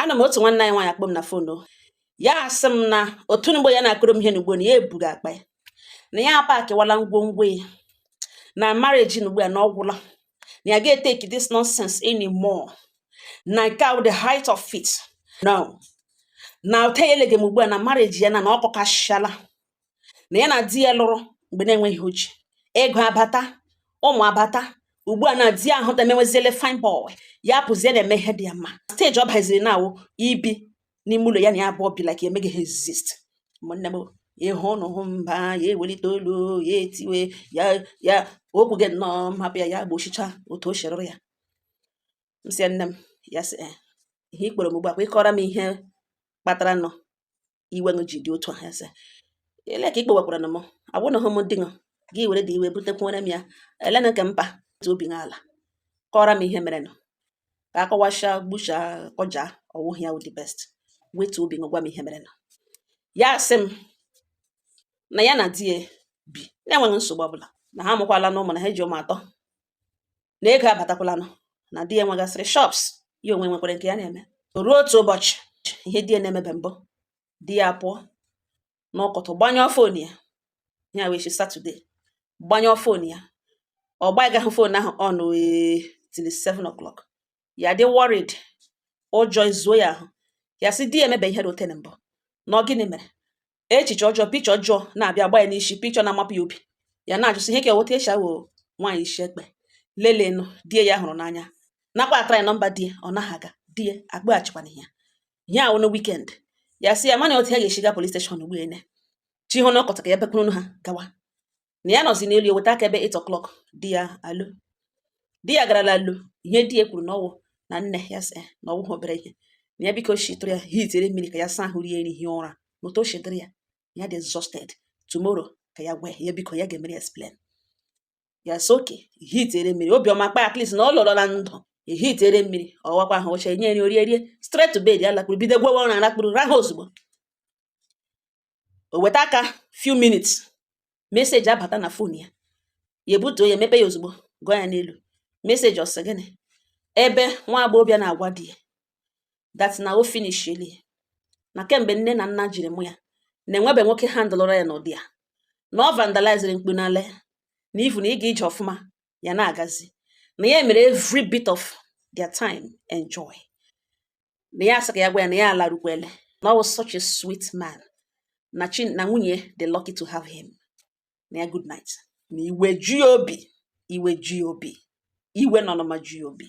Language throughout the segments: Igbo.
ana m otu nwanne anyị nwaanyị akpọọ m na fon ya asị m na otu mgbe ya na-akọrọ m ihe n'ugbu a na ya eburu akpa ya na ya apakịwala ngwongwo ya na marriage n'ugbu a na ọ gwụla na ya ga-eteki this nonsense anymore na nke a wụ the height of it no na o tegheleghị m ugbu a na marriage ya na na ọ kọkasịala na ya na di ya lụrụ mgbe na-enweghị ihe o ji ego abata ụmụ abata ugbu a na di ya ahụta emeweziele fine boy ya pụzie na-eme ihe dị ya mma steji ọ baziri na ọ wụ ibi n'ime ụlọ ya na ya abụọ bi like emeghị ha exist ụmụnne m ịhụ ụnụ hụ mba ya ewelite olu ya etiwe ya ya ekwugide nnọọ m hapụ ya ya gbochicha otu o sherụrụ ya m sị nne m ya sị eh, ihe ị kpọrọ m ugbu a kwa ịkọrọ m ihe kpatara nọ iwe ji dị otu a ya sị ee le ka ị kpewakwara na m awụnahụ m di gị were dị iwe butekwuere m ya elena nke mpa obi n'ala kọọrọ m ihe merenụ ka akọwacha gbucha kọja ọ wụghị ya wụ the best wetuo obi gwa m ihe merenụ ya sị m na ya na di ya bi na-enweghị nsogbu ọbụla na ha amụkwalanụ ụmụ na ha ji ụmụ atọ na ego abatakwalanụ na di ya nwegasịrị shops ya onwe nwekwara nke ya na-eme o ruo otu ụbọchị ihe di ya na-emebe mbụ di ya pụọ n'ụtụtụ gbanyụọ fon ya ihe a wụ eshi satọde gbanyụọ fon ya ọ gbaghị fon ahụ on till 7 o'clock ya dị worried ụjọ ezuo ya ahụ ya sị di ya emebe ihe rị otu a mbụ na ọ gịnị mere echiche ọjọọ picha ọjọọ na-abịa gba ya n'isi picha na-amapụ ya obi ya na-ajụsị ihe ka eweta e sị ọ wụ nwaanyị isi ekpe lelenụ di ya hụrụ n'anya nakwa atara ya nọmba di ya ọ naghị aga di ya akpọghachikwana ya ihe a wụ na wikend ya sị ya amana otu ya ga-esi gaa polis steshọn ugbu a na chi ho n'ụtụtụ ka ya bekwurunu ha gawa na ya nọzi n'elu ya weta aka ebe 8 o'clock di ya alọ di ya garala alọ ihe di ya kwuru na ọ wụ na nne ya sị na ọ wụha obere ihe na ya biko shitụrụ ya hitere mmiri ka ya saa ahụ rie nri hie ụra na otu o shi dịrị ya ya dị exhausted tomorrow ka ya gwa ya biko ya ga-emere explain ya sị okay ehitere mmiri obiọma kpa at least na ọ lọrọ na ndụ ehitere mmiri ọ wụkwa ahụ o chenye nri o rie rie straight to bed ya lakpuru bido gwawa ụra lakpuru rahụ ozugbo o weta aka few minutes meseji abata na fon ya ya ebutuo ya emepe ya ozugbo gụọ ya n'elu meseji ọ sị gịnị ebe nwa agbọghọbịa na-agwa di ya that na o finishiele na kemgbe nne na nna jiri mụọ ya na enwebe nwoke handụlụra ya n'ụdị a na ọ vandaliziri mkpu n'ala ya na ivu na ịga ije ọfụma ya na-agazi na ya mere every bit of their time enjoy na ya asị ka ya gwa ya na ya alarukwele na ọ was such a sweet man na chai na nwunye ya dị lucky to have him na ya good night na iwe eju ya obi iwe eju ya obi iwe na ọnụma eju ya obi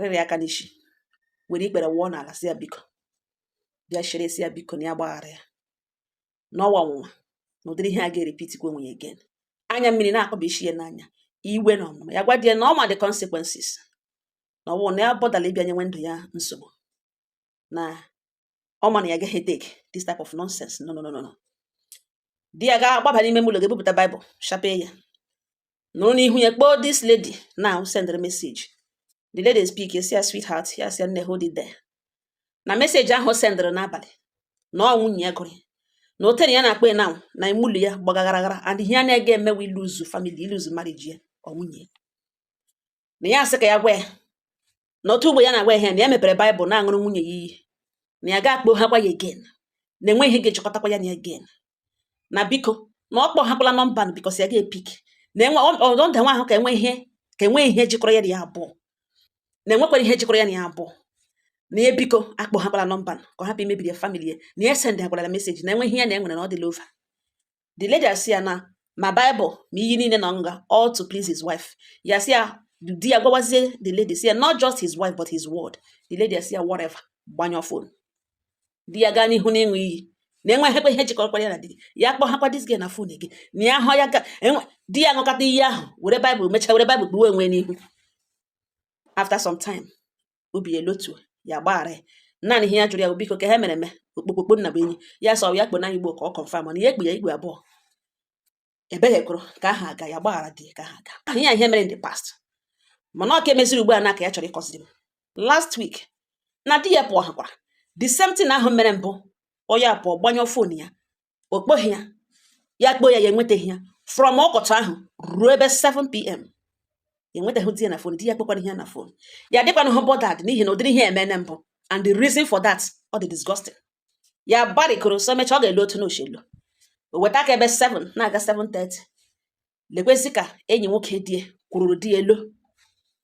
rịrị aka n'isi were ikpere wụọ n'ala sị ya biko bịa chere sị ya biko na ya gbaghara ya na ọ wụ ọnwụnwa na ụdịrị ihe a ga-eripitikwa onwe ya again anya mmiri na-akpọba isi ya n'anya iwe na ọnụma ya gwa di ya na ọ ma the consequences na ọ wụ na ya abọdala ịbịa nyewe ndụ ya nsogbu na ọ ma na ya gaghị take this type of nonsense no no no no di ya ga-agbaba n'ime ụlọ ga-ebupụta baịbụl sapee ya nọrọ n'ihu ya kpọọ this lady now send the message the lady epik ya sị ya sweetheart ya sị ya nne hold it there na meseji ahụ sendịrị n'abalị na ọ nwunye ya gụrụ na o tere ya na-akpọ na na ime ụlọ ya gbagagharagara and ihe ya na-agaghị eme wụ iluzu famili iluzu mariji ya or nwunye ya na ya sị ka ya gwa ya na otu ugbu a ya na-agwa ihe na ya mepere baịbụl na-aṅụrụ nwunye ya iyi na ya ga-akpọhakwa ya egen na enweghị ihe ga-ejikọtakwa ya na ya egen na biko na ọ kpọhakwala nọmba a bikos ya ga-epik na enwe ọdọ nda nwa ahụ ka enwe ihe ka enwe ihe jikọrọ ya na ya abụọ na enwekwara ihe jikọrọ ya na ya abụọ na ya biko akpọhakwala nọmba a ka ọ hapụ imebiri ya famili ya na ya sendịhakwara ya meseji na enwe ihe ya na ya nwere na ọ dịla ova the lady asị ya na ma Bible ma iyi niile nọ nga all to please his wife ya sị ya di ya gwawazie the lady sị ya not just his wife but his world the lady asị ya whatever gbanyụọ fon di ya gaa n'ihu n'ịṅụ iyi na enweghịkwa ihe jikọrọkwara ya na di ya kpọghakwa this girl na fon gị na ya hụ ya ka e di ya ṅụkọta iyi ahụ were baịbụl mechaa were baịbụl kpuwe onwe n'ihu after some time obi elotu ya gbaghara ya naanị ihe ya jụrụ ya bụ biko ka ha mere eme okpokpokpo nna bụ enyi ya sọ ya kpo na igbo ka ọ kọnfam mana ya ekpe ya igwe abụọ ebeghekụrụ ka aha aga ya gbaghara dị ka aha aga ahụ ya ihe mere in the past mana ọ ka emeziri ugbu a na ka ya chọrọ ịkọziri m last week na di ya pụọ hakwara the same thing ahụ mere mbụ onye apụọ gbanyụọ fon ya ọ kpọghị ya ya kpọọ ya ya enwetaghị ya from ọkọchị ahụ ruo ebe 7pm enwetaghị di ya na fon di ya akpọkwaghị ya na fon ya adịkwanahụ bọdad n'ihi na ụdịrị ihe a emeene mbụ and the reason for that ọ dị disgusting ya gbarịkoro so mechaa ọ ga-ele otu n'ochelu o weta aka ebe 7 na-aga 7:30 lekwezi ka enyi nwoke di ya kwururu di ya elo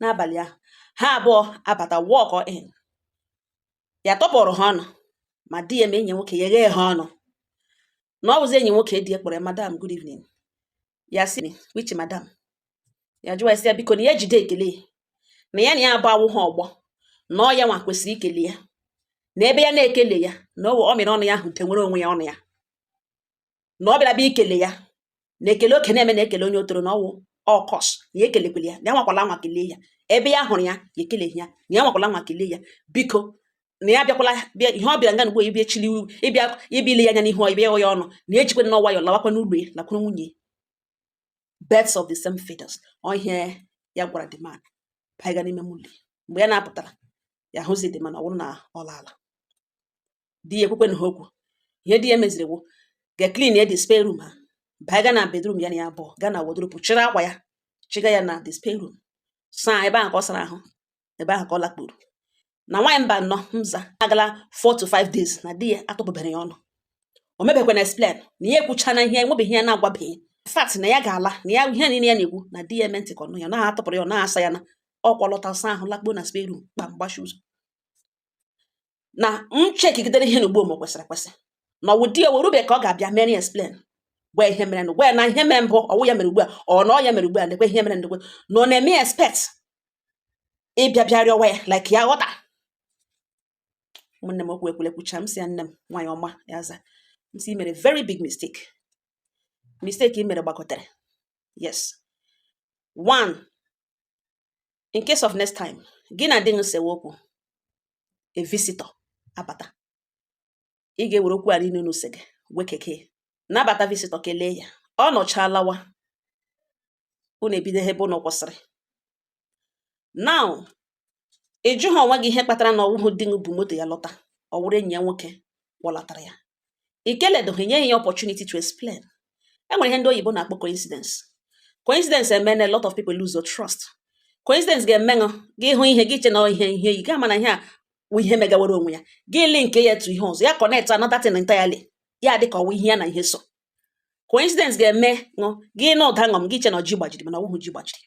n'abalị ahụ ha abụọ abata walk in ya tụpụrụ ha ọnụ ma di ya ma enyi nwoke ya ghee ha ọnụ na ọ bụzi enyi nwoke di ya kpọrọ ya madam good evening ya sị which madam ya jụwa ya sị ya biko na ya jide ekele na ya na ya abụọ awụha ọgbọ na ọ yanwa kwesịrị ikele ya na ebe ya na-ekele ya na ọ mịrị ọnụ ya ahụ tenwere onwe ya ọnụ ya na ọ bịara bịa ikele ya na ekele oke na-eme na ekele onye otoro na ọwụ a curse na ya ekelekwele ya na ya nwakwala nwa kelee ya ebe ya hụrụ ya ya ekeleghị ya na ya nwakwala nwa kelee ya biko na ya bịakwala bịa ihe ọ bịara nga n'ugbo ịbịa chili ịbịa ịbịa ile ya anya n'ihu ịbịa ya ọnụ na ejikwa onwe ya lawakwa n'ụlọ ya lakwuru nwunye birds of the same feathers ọ ihe ya gwara the man baiga n'ime ụlọ mgbe ya na-apụtara ya hụzi the man ọ bụrụ na ọ laala di ya ekwukwenaha okwu ihe di ya meziri wụ ga clean ya the spare room ha baa ga na bedroom ya na ya abụọ ga na wardrobe chịrị akwa ya chịga ya na the spare room saa ebe ahụ ka ọ sara ahụ ebe ahụ ka ọ lakpuru na nwaanyị mba nnọ mza agala 4 to 5 days na di ya atụpụbere ya ọnụ o mebekwana explain na ya ekwuchana ihe enwebeghị ya na-agwabeghị fact na ya ga-ala na ya ihe niile ya na-ekwu na di ya eme ntị ka ọnụ ya na-atụpụrụ ya ọ na-asa ya na ọkwa lọta saa ahụ lakpuo na spare room kpam gbachi ụzọ na m chekigidere ihe n'ugbo m kwesịrị ekwesị na ọwụ di ya werube ka ọ ga-abịa mere explain gwa ihe mere na gwa ya na ihe mere mbụ ọwụ ya mere ugbu a ọ na ọ ya mere ugbu a lekwe ihe mere lekwe na ọ na-eme ya expect ịbịa bịa rịọwa ya like ya ghọta ụmụnne m okwu ekwule kwucha m sị ya nne m nwaanyị ọma ya za m sị i mere very big mistake mistake i mere gbakọtara yes one in case of next time gị na di gị sewe okwu a visitor abata ị ga-ewere okwu a niile unu sege wee kekee nabata visitor kelee ya ọ nọchaa lawa unu ebido ebe unu kwụsịrị now ị jụghị onwe gị ihe kpatara na ọwụhụ di gị bu moto ya lọta ọ wụrụ enyi ya nwoke kpọlatara ya i keledụghị nye ya opportunity to explain enwere ihe ndị oyibo na-akpọ coincidence coincidence emeela a lot of people lose their trust coincidence ga-emenụ gị hụ ihe gị che na ihe ihe yi gaa mana ihe a wụ ihe megawara onwe ya gị link ya to ihe ọzọ ya connect another thing entirely ya dị ka ọwụ ihe ya na ihe so coincidence ga-emenụ gị nụ ụda ṅụm gị che na ọjị gbajiri mana ọwụhụ ọjị gbajiri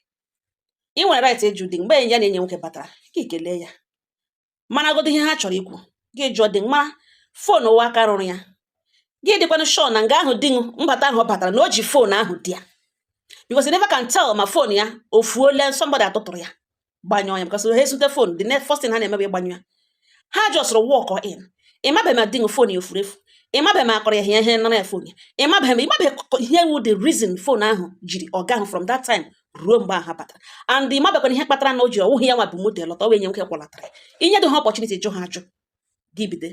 ị nwere right ịjụ di mgbe ya na enyi ya nwoke batara gị kelee ya maragodo ihe ha chọrọ ikwu gị jụọ di mara fon ahụ aka ruru ya gị dịkwanụ sure na nga ahụ di mbata ahụ ọ batara na o ji fon ahụ dị ya because you never can tell ma fon ya o fuola somebody atụtụrụ ya gbanyụọ ya because ha ezute fon the next first thing ha na-emebe ịgbanyụ ya ha just walk in ịmabeghị ma di fon ya o furu efu ịmabeghị ma a kụrụ ya ihe ihe nara ya fon ya ịmabeghị ma ịmabeghị ihe wụ the reason fon ahụ jiri ọ gahụ from that time ruo mgbe ahụ batara and ị mabekwana ihe kpatara na o ji ọwụghị ya nwa bu moto lọta wụ enyi ya nwoke kwọlatara i nyedị ha opportunity jụọ ha ajụjụ gị bido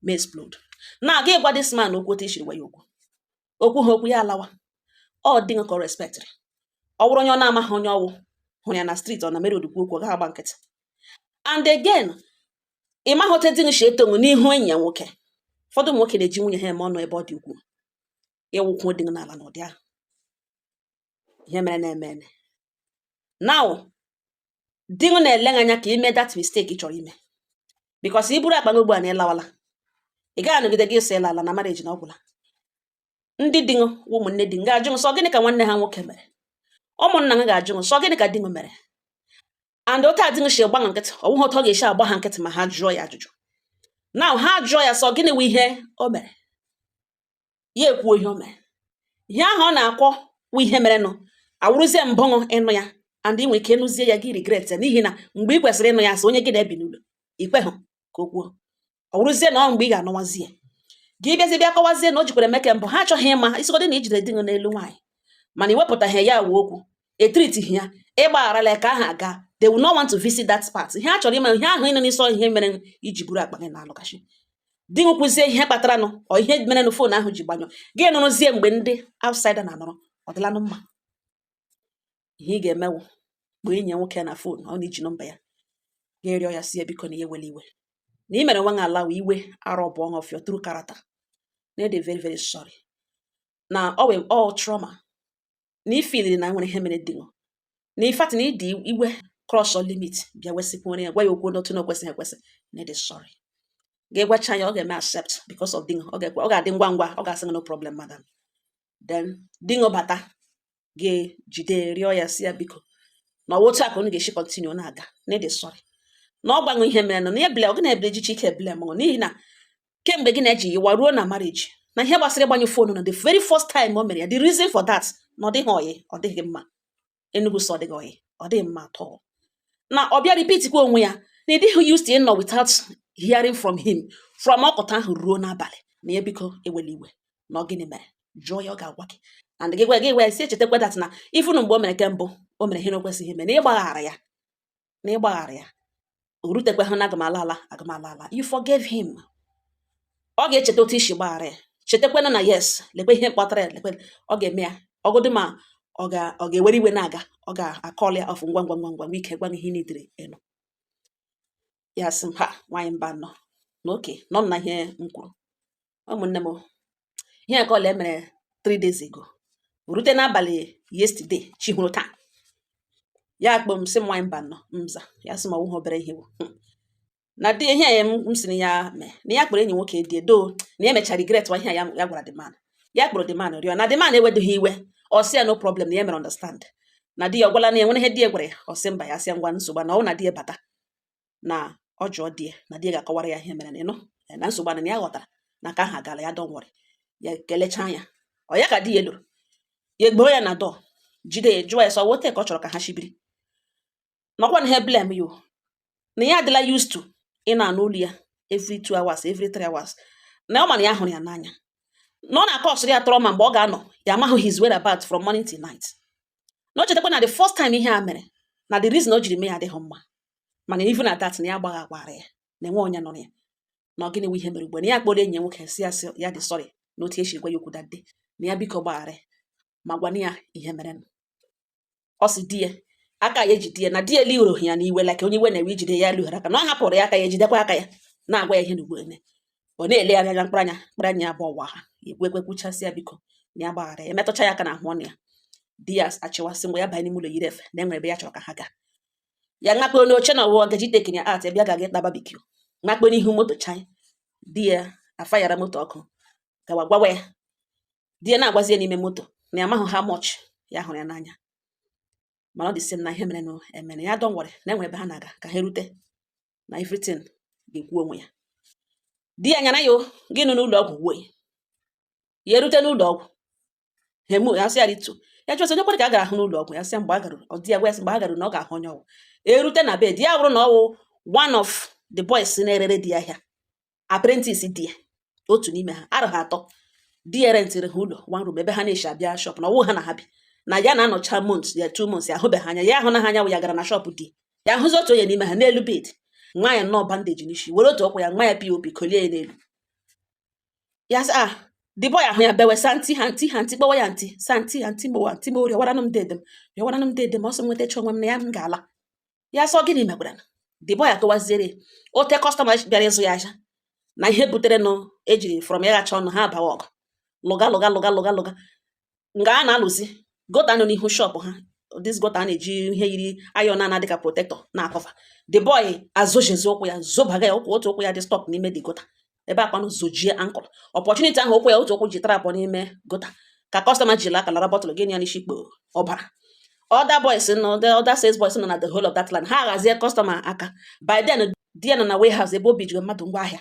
ma explode na gị gwa this man okwu otu i siri gwa ya okwu okwu ha okwu ya alawa ọ di ṅụ ka ọ respectịrị ọ bụrụ onye ọ na-amaghị onye ọwụ hụrụ ya na street ọ na mere odikwu okwu ọ gaghị agba nkịtị and again ị maghị otu di ṅụ shi eto ṅụ n'ihu enyi ya nwoke ụfọdụ ụmụ nwoke na-eji nwunye ha eme ọnụ ebe ọ dị ukwuu ịwụkwụ dị n'ala n'ụdị ahụ ihe mere na-eme eme now di m na-ele gị anya ka i mee that mistake ị chọrọ ime because i buru akpa gị ugbu a na ịlawala ị gaghị anọgide gị ịsọ ịla ala na marriage na ọ gwụla ndị di ṅụ wụ ụmụnne di m ga-ajụ m sọ gịnị ka nwanne ha nwoke mere ụmụnna m ga-ajụ m sọ gịnị ka di m mere and otu a di m si gba ha nkịtị ọ bụghị otu ọ ga-esi agba ha nkịtị ma ha jụọ ya ajụjụ now ha jụọ ya sọ gịnị wụ ihe o mere ya ekwuo ihe o mere ihe ahụ ọ na-akọ wụ ihe merenụ awụrụzie mbụ ṅụ ịnụ ya and ị nwere ike ịnụzie ya gị regret ya n'ihi na mgbe ị kwesịrị ịnụ ya si onye gị na ya bi n'ụlọ i kweghị ka o kwuo ọ wụrụzie na ọ mgbe ị ga-anụwazi ya gị bịazi bịa kọwazie na o jikwara eme nke mbụ ha achọghị ịma ị sịgodị na i jide di gị n'elu nwaanyị mana ị wepụtaghị ya wụ okwu e treatịghị ya ị gbagharala ya ka aha aga they will not want to visit that part ihe ha chọrọ ịma ihe ahụ ị nọ n'isi ihe mere i ji buru akpa gị na-alaghachi di m kwuzie ihe kpataranụ ọ ihe mere na fon ahụ ji gbanyụ gị nụrụzie mgbe ndị outsider na-anọrọ ọ dịlanụ mma ihe ị ga-eme wụ mgbe enyi ya nwoke na fon ọ na-eji nọmba ya ga-erịọ ya sị ya biko na i were iwe na ị mere nwa nwa alawa iwe arọ bụ of your true character na ị dị very very sorry na ọ wụ all trauma na ị feel na nwere ihe mere di ṅụ na in fact na i ji iwe cross your limit bịa wesịkwuore ya gwa ya okwu n'otu na o kwesịghị ekwesị na ị dị sorry ga-egwacha ya ọ ga-eme accept because of di ṅụ ọ ga-adị ngwa ngwa ọ ga-asị no problem madam then di ṅụ bata ga-ejide rịọ ya sị ya biko na ọwa otu a ka unu ga-esi continue na-aga na ị dị sorry na ọ gwa ṅụ ihe merenụ na ebile ọ gị na-ebile ejiche ike ebile mụrụ n'ihi na kemgbe gị na ya ji yiwa ruo na marriage na ihe gbasara ịgbanyụ fon na the very first time o mere ya the reason for that na ọ dịghị oyi ọ dịghị mma Enugu sọ dịghị oyi ọ dịghị mma at all na ọ bịa repeat kwa onwe ya na ị dịghị used to ịnọ without hearing from him from ọkụta ahụ ruo n'abalị na ya biko ewela iwe na ọ gịnị mere jụọ ya ọ ga-agwa gị and gị gwa gị gwa ya sị ya chetakwa that na ifunu mgbe o mere nke mbụ o mere ihe na o kwesịghị ime na ị gbaghara ya na ị gbaghara ya o rutekwaghị na aga m ala ala aga m ala ala you forgave him ọ ga-echeta otu i si gbaghara ya chetakwana na yes lekwe ihe kpatara ya lekwe ọ ga-eme ya ọ wụdị ma ọ ga ọ ga-ewere iwe na-aga ọ ga-acall ya off ngwa ngwa ngwa ngwa ike gwụ ihe n'idiri elu ya sị m ha nwaanyị mba nọ na oke nọ m na ihe m kwuru ụmụnne m ihe ka ọla emere three days ago rute n'abalị yesterday chi họrọ taa ya akpọọ m sị m nwaanyị Mbano m aza ya sị m ọ wụghị obere ihe bụ hmm. na dị ihe ya m si na ya mee na ya kpọrọ enyi nwoke di ya ọdọ na ya mechara regret wa ihe ya ya gwara the man ya kpọrọ the man rịọ na the man ewedoghị iwe ọ sị ya no problem na ya mere understand na di ya ọ gwala na enwere ihe di ya gwara ya ọ sị mba ya sị ya enweghị nsogbu na ọ na di ya bata na ọ jụọ di ya na di ya ga-akọwara ya ihe mere na ịnụ eh, na nsogbu na ya ghọtara na ka ha gara ya don't worry ya kelechaa ya ọ ya ka di ya lọrọ ya egboo ya na door jide ya jụọ ya sị ọ wụ ote ka ọ chọrọ ka ha shi biri nakwa na ha blame ya o na ya adịla used to ịna-anụ olu ya every two hours every three hours na ọ ma na ya hụrụ ya n'anya na ọ na-acausịrị ya trauma mgbe ọ ga-anọ ya amaghị his whereabouts from morning till night na o chetakwa na the first time ihe a mere na the reason o jiri mee ya adịghị mma mana even at that na ya gbagha agbara ya na enwe onye nụrụ ya na ọ gịnị nwe ihe mere ugbu na ya kpọrọ enyi ya nwoke sị ya sị ya dị sorry na otu ya si gwa ya okwu that day na ya biko gbaghara ma gwana ya ihe mere nụ ọ sị di ya aka ya ejide ya na di ya lighoro ya n'iwe like onye iwe na-ewe ijide ya lighoro aka na ọ hapụrụ ya aka ya ejidekwa aka ya na-agwa ya ihe na ugbo eme ọ na-ele ya anya mkpụrụ anya mkpụrụ anya abụọ ọwa ha ya ekwe ekwe kwuchasị ya biko na ya gbaghara ya metụcha ya aka na ahụ ọnụ ya di ya achịwa sị ngwa ya banye n'ime ụlọ yiri efe na enwere ebe ya chọrọ ka ha gaa ya ṅakpoo n'oche na ọwụwa gaji taking ya out bịa ga-aga ịta barbecue ṅakpo n'ihu moto chai di ya afayara moto ọkụ gawa gwawa ya di ya na-agwazi ya n'ime moto na ya amahụ how much ya hụrụ ya n'anya mana ọ dị na ihe mere na emere ya don't worry na enwere ebe ha na-aga ka ha rute na everything ga-ekwu onwe ya di ya nyara ya gị nụ n'ụlọ ọgwụ wee ya erute n'ụlọ ọgwụ hemo ya sị ya rịtuo ya jụọ sị onye kwere ka a gara ahụ n'ụlọ ọgwụ ya sị mgbe a garuru ọ di ya gwa ya sị mgbe a garuru na ọ ga-ahụ onye ọ wụ erute na bed ya bụrụ na ọ wụ one of the boys na-erere di ya ahịa apprentice di ya otu n'ime ha arụ ha atọ di ya rentịrị ha ụlọ one room ebe ha na-eshi abịa shop na ọwụ ha na ha bi na ya na-anọcha months ya two months ya ahụbeghị anya ya ahụ na ha anya wụ ya gara na shop di ya ahụzi otu onye n'ime ha n'elu bed nwa ya nnọọ bandage n'isi were otu ọkpa ya nwa ya pop kolie ya n'elu ya sị ah the boy ahụ ya bewe sị aunty aunty aunty kpọwa ya aunty sị aunty aunty gbowa aunty gbowa rịọwaranụ m dede m rịọwaranụ m dede m ọ sị m nwetachaa onwe m na ya m ga-ala ya sị ọ gịnị mekwara the boy akọwaziere ote customer bịara ịzụ ya ahịa na ihe butere nụ ejiri from ya ghacha ọnụ ha abawa ọgụ lụga lụga lụga lụga lụga nga a na-alụzi gutter nọ n'ihu shop ha this gutter a na-eji ihe yiri iron na dịka protector na-acover the boy azojezi ụkwụ ya zobaga ya ụkwụ otu ụkwụ ya dị stuck n'ime the gutter ebe a kwanụ zojie ankle opportunity ahụ ụkwụ ya otu ụkwụ ji trap n'ime gutter ka customer ji laka lara bottle gị ya n'isi kpo ọbara other boys nọ other sales boys nọ na the whole of that line ha ghazie customer aka by then di ya nọ na warehouse ebe o bujiri mmadụ ngwa ahịa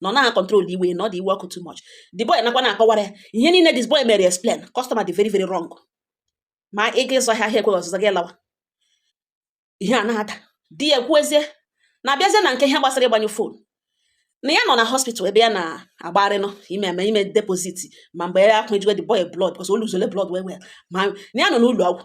na ọ naghị control iwe na ọ dị iwe ọkụ too much the boy nọkwa na-akọwara ya ihe niile this boy mere explain customer dị very very wrong ma ị ga ịzụ ahịa ahịa ekweghị ọzụzụ gị lawa ihe a na-ada di ya ekwuezie na a bịazie na nke ihe gbasara ịgbanyụ phone na ya nọ na hospital ebe ya na-agbagharị nọ ime eme ime deposit ma mgbe ya akwụ ejiwe the boy blood because o luzole blood well well ma na ya nọ n'ụlọ ọgwụ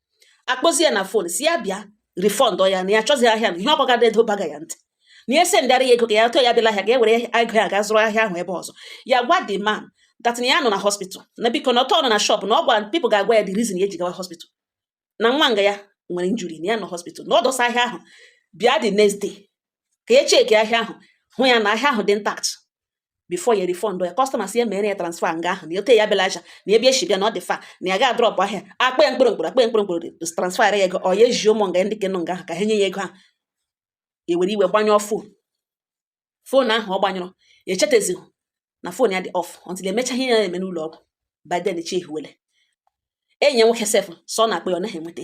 akpọzi ya na phone sị ya bịa refund ya na ya achọzi ahịa na ihe ọ kọga ada edo baga ya ntị na ya sendara ya ego ka ya tụọ ya bịala ahịa ga ewere ego ya ga zụrụ ahịa ahụ ebe ọzọ ya gwa the man that na ya nọ na hospital na biko na ọtọ nọ na shop na ọ gwa people ga-agwa ya the reason ya ji gawa hospital na nwa nga ya nwere injury na ya nọ hospital na ọ dọsa ahịa ahụ bịa the next day ka ya check ahịa ahụ hụ ya na ahịa ahụ dị intact before ya refund ya customer sị ya mere ya transfer nga ahụ na ote ya bịala aja na ebe ya si bịa na ọ dị far na ya ga-adrop ahịa akpa ya mkpụrụ mkpụrụ akpa ya mkpụrụ mkpụrụ transfer ya ego ọ ya eji ụmụ nga ndị kenụ nga ahụ ka ha nye ya ego ahụ ewere iwe gbanyụọ phone phone ahụ ọ gbanyụrụ echetazighị na phone ya dị off until emecha ihe ya na-eme n'ụlọ ọgwụ by then chi ejiwele enyi ya nwoke sef so na-akpọ ya ọ naghị enweta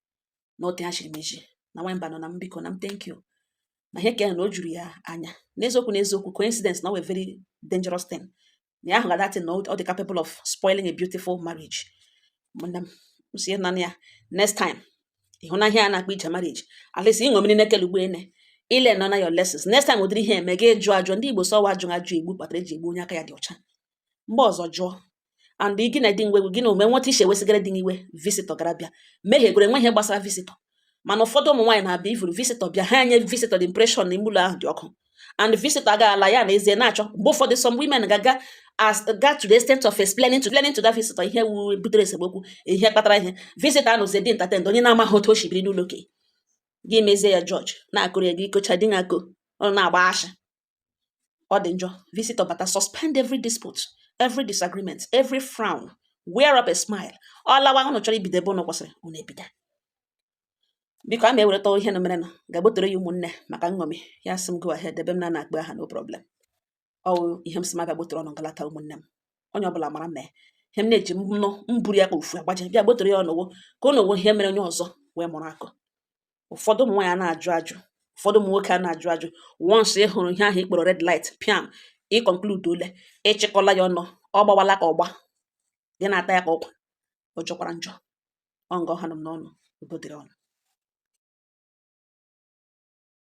na ote ha chiri m iji na nwa mba nọ na m biko na m thank you na ihe kere na o juru ya anya n'eziokwu n'eziokwu coincidence na ọ wụ a very dangerous thing na ya ahụ ga that thing na ọ dị capable of spoiling a beautiful marriage mana m sie na ya next time ị hụna ihe a na-akpa ije marriage at least ịṅụ mmiri na-ekele ugbu a na ị learnụna your lessons next time ụdịrị ihe a mee gị jụọ ajụ ndị Igbo sị ọ wụ ajụ ajụ egbu kpatara e ji egbu onye aka ya dị ọcha mgbe ọzọ jụọ and gị na di ngwegwu gị na ome nweta issue wesịgara dị n'iwe visitor gara bịa mehie gwere nwe ihe gbasara visitor mana ụfọdụ ụmụ nwaanyị na-abịa ifuru visitor bịa ha enye visitor the impression na ime ụlọ ahụ dị ọkụ and visitor agaghị ala ya na ezie na-achọ mgbe ụfọdụ some women ga-aga as ga to the extent of explaining to explaining to that visitor ihe wu butere esemokwu ihe kpatara ihe visitor anụzi dị entertained onye na-amaghị otu o si biri n'ụlọ okenye gị mezie ya judge na-akọrọ ya gị kọcha di na-akọ ọ na-agba ashị ọ dị njọ visitor bata suspend every dispute every disagreement every frown wear up a smile ọ lawa ụnụ chọrọ ibido ebe ụnụ kwụsịrị ụnụ ebido biko a ma ewereta ihe na mere na ga-agbotere ya ụmụnne maka nṅomi ya sị m go ahead ebe m na na-akpọ aha no problem ọ wụ ihe m sị m ga-agbotere ụnụ nga a taa ụmụnne m onye ọbụla mara mee ihe m na-eji m nụ m buru ya ka ofu agbaja bịa gbotere ya ụnụ wụ ka ụnụ were ihe mere onye ọzọ wee mụrụ akọ ụfọdụ ụmụ nwaanyị ana-ajụ ajụ ụfọdụ ụmụ nwoke ana-ajụ ajụ once ị hụrụ ihe ahụ ị kpọrọ red light piam ị concludeole ị chịkọla ya ọnụ ọ gbawala ka ụgba gị na-ata ya ka ụkwa ọ jọkwara njọ ọ nga ọ ha nụ m n'ọnụ udo dịrị ụnụ